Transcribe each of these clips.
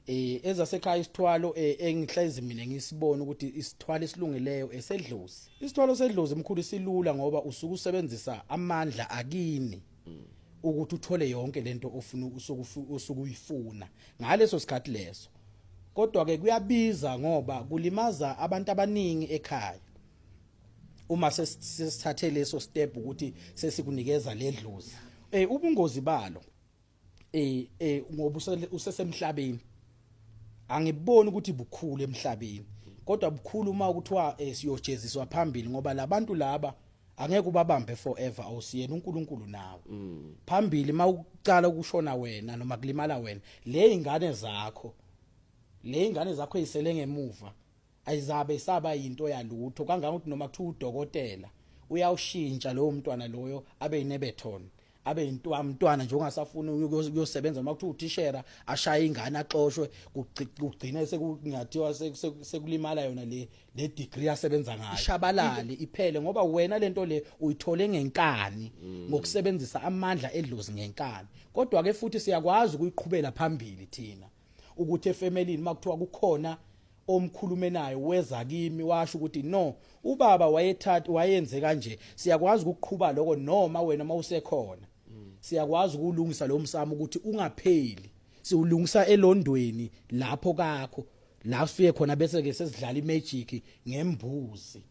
eh ezasekhaya isithwalo eh, engihlezi mina ngisibona ukuthi isithwalo esilungileyo esedlozi isithwalo sedlozi mkhulu silula ngoba usuku usebenzisa amandla akini ukuthi uthole yonke lento ofuna usukuyifuna ngaleso sikhathi leso kodwa ke kuyabiza ngoba kulimaza abantu abaningi ekhaya uma sesithathe leso step ukuthi sesikunikeza ledlozi eh ubungozi balo eh eh ngoba usesemhlabeni angiboni ukuthi bukhulu emhlabeni kodwa bukhulu uma kuthiwa eh, siyojeziswa phambili ngoba labantu laba angeke ubabambe forever awusiyena uNkulunkulu nawe mm. phambili mawucala ukushona wena noma kulimala wena le ingane zakho le ingane zakho ezisele ngemuva Ayizabe isaba yinto yalutho kangangokuthi noma kuthiwa udokotela uyawushintsha lowo mntwana loyo abe yinebethon abe yintwamntwana nje ongasafuni ukuyosebenza noma kuthiwa uthishera ashaye ingane axoshwe kugcine sekungathiwa sekulimala yona le le degree asebenza ngayo ishabalale iphele ngoba wena lento le uyithole ngenkani mm. ngokusebenzisa amandla edlozi ngenkani kodwa ke futhi siyakwazi ukuyiqhubela phambili thina ukuthi efemelini makuthiwa kukhona omkhulume naye weza kimi washo ukuthi no ubaba wayethatha wayenze kanje siyakwazi ukuqhuba lokho noma wena mawusekhona siyakwazi ukulungisa lo msamo ukuthi ungapheli siwulungisa elondweni lapho kakho la sifike khona bese ke sesidlala imagic ngembuzi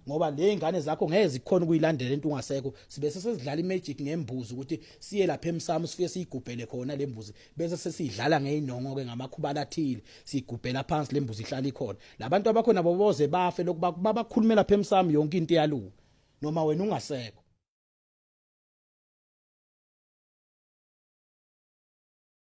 ngoba le ingane zakho ngeke zikhona ukuyilandela into ungasekho sibe sesidlala imagic ngembuzi ukuthi siye lapha emsamo sifike siyigubhele khona le mbuzi bese sesidlala ngeinongo ke ngamakhubala athile sigubhela phansi le mbuzi ihlala ikhona labantu abakhona boboze bafe lokuba babakhulumela lapha emsamo yonke into yalunga noma wena ungasekho